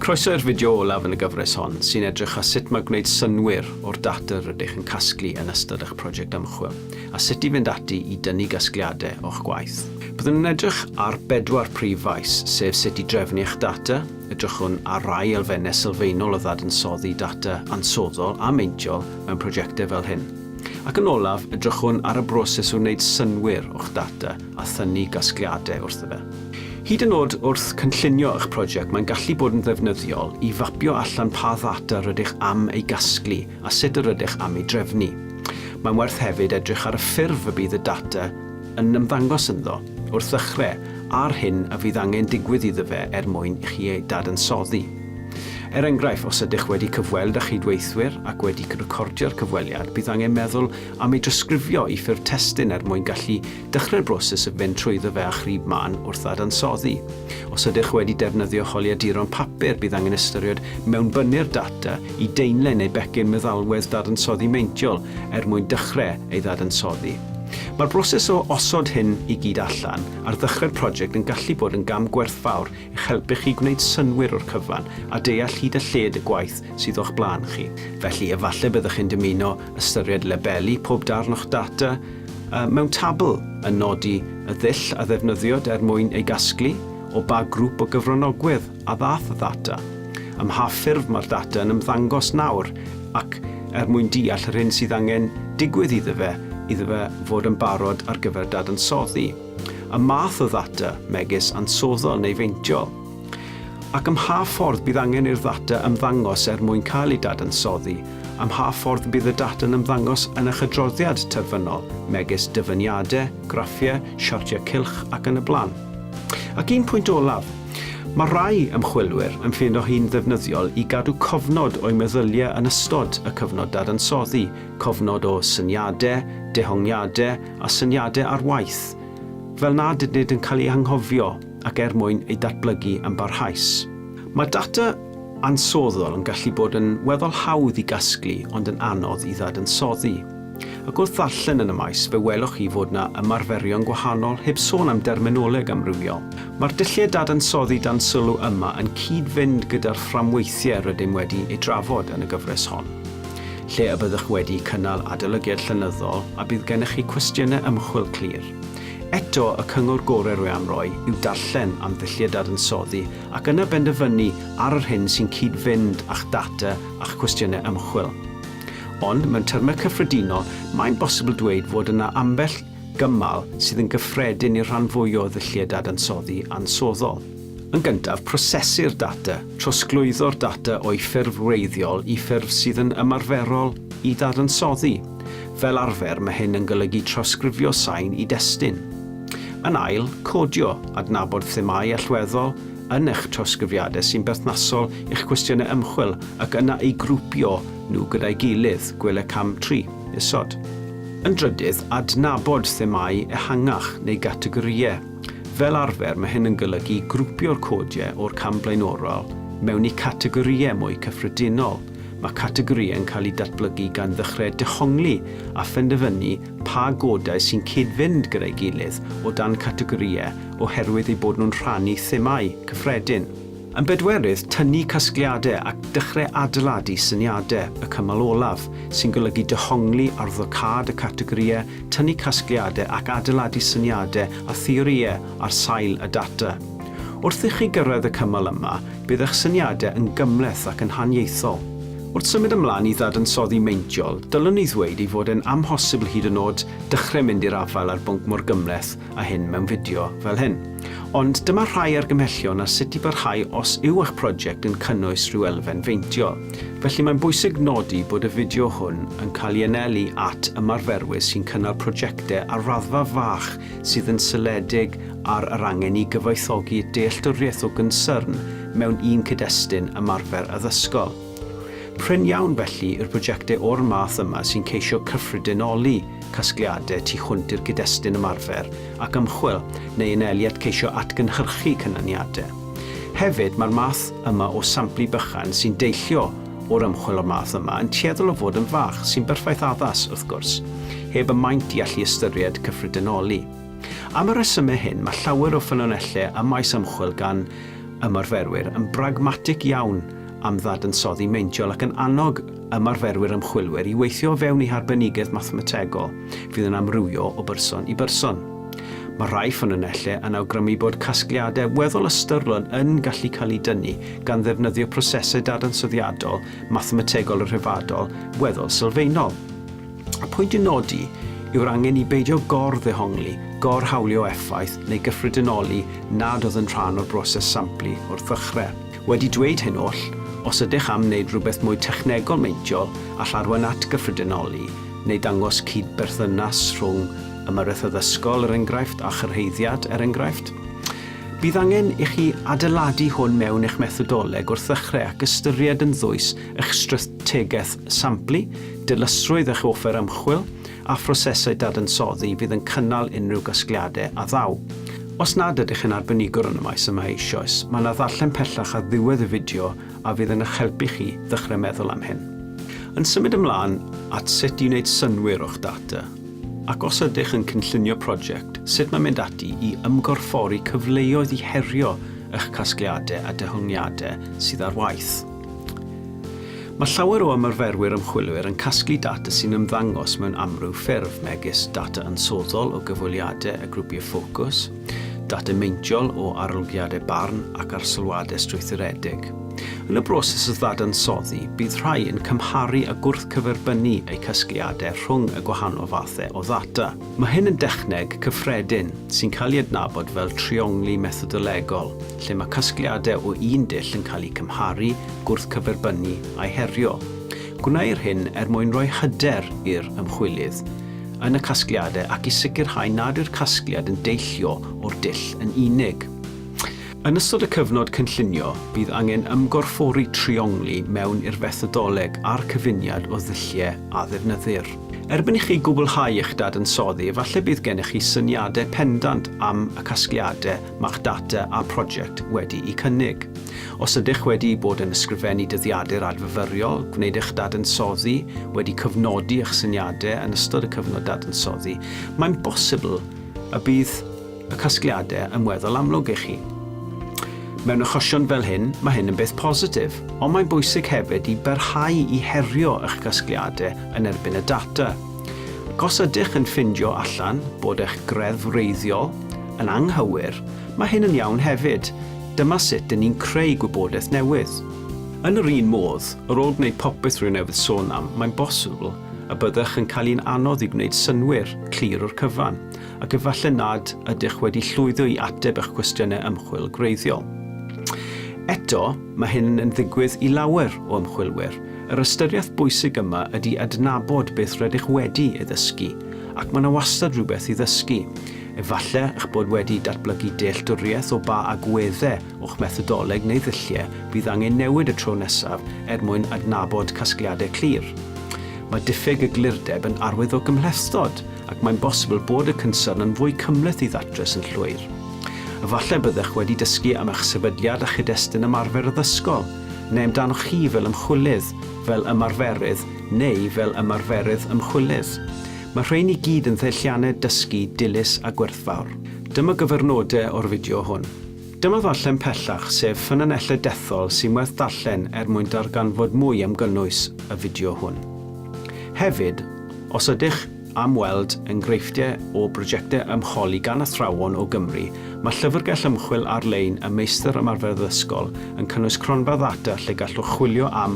Croeso i'r fideo olaf yn y gyfres hon, sy'n edrych ar sut mae gwneud synnwyr o'r data rydych yn casglu yn ystod eich prosiect ymchwil, a sut i fynd ati i dynnu gasgliadau o'ch gwaith. Byddwn yn edrych ar bedwar prif faes, sef sut i drefnu eich data, edrychwn ar rai elfennau sylfaenol o ddadansoddi data ansoddol a meintiol mewn prosiectau fel hyn, ac yn olaf, edrychwn ar y broses o wneud synnwyr o'ch data, a thynnu gasgliadau wrtho fe. Hyd yn oed wrth cynllunio eich prosiect, mae'n gallu bod yn ddefnyddiol i fapio allan pa ddata rydych am ei gasglu a sut yr ydych am ei drefnu. Mae'n werth hefyd edrych ar y ffurf y bydd y data yn ymddangos ynddo wrth ddechrau a'r hyn a fydd angen digwydd iddo fe er mwyn i chi ei dadansoddi. Er enghraifft, os ydych wedi cyfweld â chydweithwyr ac wedi recordio'r cyfweliad, bydd angen meddwl am ei drosgrifio i ffurf testun er mwyn gallu dechrau'r broses o fynd trwyddo fe â chrib mân wrth ddadansoddi. Os ydych wedi defnyddio holiaduron papur, bydd angen ystyried mewnbynnu'r data i deinlen neu becyn meddalwedd dadansoddi meintiol er mwyn dechrau ei ddadansoddi. Mae'r broses o osod hyn i gyd allan ar ddechrau'r project yn gallu bod yn gam gwerthfawr i'ch helpu chi gwneud synnwyr o'r cyfan a deall hyd a lled y gwaith sydd o'ch blaen chi. Felly, efallai byddwch chi'n dymuno ystyried labelu pob darn o'ch data mewn tabl, yn nodi y ddull a ddefnyddiwyd er mwyn ei gasglu, o ba grŵp o gyfranogwyr a ddaeth y ddata, ym mha ffurf mae'r data yn ymddangos nawr ac er mwyn deall yr hyn sydd angen digwydd iddo fe iddo fe fod yn barod ar gyfer dadansoddi. y math o ddata, megis ansoddol neu feintiol, ac ym mha ffordd bydd angen i'r ddata ymddangos er mwyn cael ei dadansoddi, ym mha ffordd y bydd y data'n ymddangos yn eich adroddiad terfynol, megis dyfyniadau, graffiau, siartiau cylch ac yn y blaen. Ac un pwynt olaf, mae rhai ymchwilwyr yn ffeindio hi'n ddefnyddiol i gadw cofnod o'u meddyliau yn ystod y cyfnod dadansoddi, cofnod o syniadau, dehongliadau a syniadau ar waith, fel nad ydynt yn cael eu hanghofio ac er mwyn eu datblygu yn barhaus. Mae data ansoddol yn gallu bod yn weddol hawdd i gasglu ond yn anodd i ddadansoddi. Ac wrth ddarllen yn y maes fe welwch chi fod yna ymarferion gwahanol heb sôn am derminoleg amrywiol. Mae'r dulliau dadansoddi dan sylw yma yn cyd-fynd gyda'r fframweithiau rydym wedi eu trafod yn y gyfres hon. lle y byddwch wedi cynnal adolygiad llenyddol a bydd gennych chi cwestiynau ymchwil clir. Eto, y cyngor gorau rwy am roi yw darllen am ddulliau dadansoddi ac yna benderfynu ar yr hyn sy'n cyd-fynd â'ch data a'ch cwestiynau ymchwil. Ond, mewn termau cyffredinol, mae'n bosibl dweud fod yna ambell gymal sydd yn gyffredin i'r rhan fwyaf o ddulliau dadansoddi ansoddol. Yn gyntaf, prosesu'r data. Trosglwyddo'r data o'i ffurf wreiddiol i ffurf sydd yn ymarferol i ddadansoddi. Fel arfer, mae hyn yn golygu trawsgrifio sain i destun. Yn ail, codio, adnabod themâu allweddol yn eich trawsgrifiadau sy'n berthnasol i'ch cwestiynau ymchwil ac yna'u grwpio nhw gyda'i gilydd, gwele cam tri, isod. Yn drydydd, adnabod themâu ehangach neu gategorïau. Fel arfer, mae hyn yn golygu grwpio'r codiau o'r cam blaenorol mewn i categorïau mwy cyffredinol. Mae categorïau yn cael eu datblygu gan ddechrau dehongli a phenderfynu pa godau sy'n cyd-fynd gyda'i gilydd o dan categorïau oherwydd eu bod nhw'n rhannu themâu cyffredin. Yn bedwerydd, tynnu casgliadau ac dechrau adeiladu syniadau, y cymal olaf, sy'n golygu dehongli ar ddocâd y categorïau tynnu casgliadau ac adeiladu syniadau a theorïau ar sail y data. Wrth i chi gyrraedd y cymal yma, bydd eich syniadau yn gymhleth ac yn haniaethol. Wrth symud ymlaen i ddadansoddi meintiol, dylwn i ddweud ei fod e'n amhosibl hyd yn oed dechrau mynd i'r afael â'r bwnc mor gymhleth a hyn mewn fideo fel hyn. Ond dyma rhai argymhellion ar sut i barhau os yw eich prosiect yn cynnwys rhyw elfen feintio. Felly mae'n bwysig nodi bod y fideo hwn yn cael ei anelu at ymarferwyr sy'n cynnal prosiectau ar raddfa fach sydd yn seiliedig ar yr angen i gyfoethogi dealltwriaeth o gynsyrn mewn un cyd-destun ymarfer addysgol. Prin iawn felly yw'r prosiectau o'r math yma sy'n ceisio cyffredinoli casgliadau tu hwnt i'r cyd-destun ymarfer ac ymchwil neu yn eiliad ceisio atgynhyrchu canlyniadau. Hefyd, mae'r math yma o samplu bychan sy'n deillio o'r ymchwil o'r math yma yn tueddol o fod yn fach, sy'n berffaith addas, wrth gwrs, heb y maint i allu ystyried cyffredinoli. Am y rhesymau hyn, mae llawer o ffynonellau ym maes ymchwil gan ymarferwyr yn bragmatig iawn am ddadansoddi meintiol ac yn annog ymarferwyr ymchwilwyr i weithio o fewn eu harbenigedd mathemategol fydd yn amrywio o berson i berson. Mae rhai ffynonellau yn awgrymu bod casgliadau weddol ystyrlon yn gallu cael eu dynnu gan ddefnyddio prosesau dadansoddiadol mathemategol y rhyfeddol weddol sylfaenol. Y pwynt i'w nodi yw'r angen i beidio gor-ddehongli, gor-hawlio effaith neu gyffredinoli nad oedd yn rhan o'r broses samplu wrth ddechrau. Wedi dweud hyn oll, os ydych am wneud rhywbeth mwy technegol meintiol, all arwain at gyffredinoli neu ddangos cyd-berthynas rhwng ymyrraeth addysgol, er enghraifft, a chyrhaeddiad, er enghraifft. Bydd angen i chi adeiladu hwn mewn eich methodoleg wrth ddechrau ac ystyried yn ddwys eich strategaeth samplu, dilysrwydd eich offer ymchwil, a phrosesau dadansoddi fydd yn cynnal unrhyw gasgliadau a ddaw. Os nad ydych yn arbenigwr yn y maes yma eisoes, mae yna ddarllen pellach ar ddiwedd y fideo a fydd yn eich helpu chi ddechrau meddwl am hyn. Yn symud ymlaen at sut i wneud synnwyr o'ch data, ac os ydych yn cynllunio prosiect, sut mae mynd ati i ymgorffori cyfleoedd i herio eich casgliadau a dehongliadau sydd ar waith. Mae llawer o ymarferwyr ymchwilwyr yn casglu data sy'n ymddangos mewn amryw ffurf, megis data ansoddol o gyfweliadau a grwpiau ffocws, data meintiol o arolygiadau barn ac arsylwadau strwythuredig. Yn y broses o ddadansoddi, bydd rhai yn cymharu a gwrthcyferbynnu eu casgliadau rhwng y gwahanol fathau o ddata. Mae hyn yn dechneg cyffredin sy'n cael ei adnabod fel triongli methodolegol, lle mae casgliadau o un dull yn cael eu cymharu, gwrthcyferbynnu a'u herio. Gwneir hyn er mwyn rhoi hyder i'r ymchwilydd yn y casgliadau ac i sicrhau nad yw'r casgliad yn deillio o'r dull yn unig. Yn ystod y cyfnod cynllunio, bydd angen ymgorffori triongli mewn i'r fethodoleg a'r cyfuniad o ddulliau a ddefnyddir. Erbyn i chi gwblhau eich dadansoddi efallai bydd gennych chi syniadau pendant am y casgliadau mae'ch data a prosiect wedi'u cynnig. Os ydych wedi bod yn ysgrifennu dyddiadur adfyfyriol, gwneud eich dadansoddi, wedi cyfnodi eich syniadau yn ystod y cyfnod dadansoddi, mae'n bosibl y bydd y casgliadau yn weddol amlwg i chi. Mewn achosion fel hyn, mae hyn yn beth positif, ond mae'n bwysig hefyd i barhau i herio eich casgliadau yn erbyn y data. Ac os ydych yn ffindio allan bod eich greddf wreiddiol yn anghywir, mae hyn yn iawn hefyd, dyma sut dyn ni'n creu gwybodaeth newydd. Yn yr un modd, ar ôl gwneud popeth rwy'n newydd sôn am, mae'n bosibl y byddech yn cael hi'n anodd i gwneud synnwyr clir o'r cyfan, ac efallai nad ydych wedi llwyddo i ateb eich cwestiynau ymchwil gwreiddiol. Eto, mae hyn yn ddigwydd i lawer o ymchwilwyr. Yr ystyriaeth bwysig yma ydy adnabod beth rydych wedi ei ddysgu, ac mae yna wastad rhywbeth i ddysgu. Efallai eich bod wedi datblygu dealltwriaeth o ba agweddau o'ch methodoleg neu ddulliau bydd angen newid y tro nesaf er mwyn adnabod casgliadau clir. Mae diffyg eglurdeb yn arwydd o gymhlethdod, ac mae'n bosibl bod y cynsyrn yn fwy cymhleth i ddatrys yn llwyr. Efallai byddech wedi dysgu am eich sefydliad a chyd-destun ymarfer addysgol, neu amdanoch chi fel ymchwilydd, fel ymarferydd, neu fel ymarferydd ymchwilydd. Mae rhein i gyd yn ddeilliannau dysgu dilys a gwerthfawr. Dyma gyfyrnodau o'r fideo hwn. Dyma ddarllen pellach, sef ffynonellau dethol sy'n werth darllen er mwyn darganfod mwy am gynnwys y fideo hwn. Hefyd, os ydych am weld enghreifftiau o brojectau ymcholi gan athrawon o Gymru, mae llyfrgell ymchwil ar-lein y Meistr Ymarferydd Ysgol yn cynnwys cronfa ddata lle gallwch chwilio am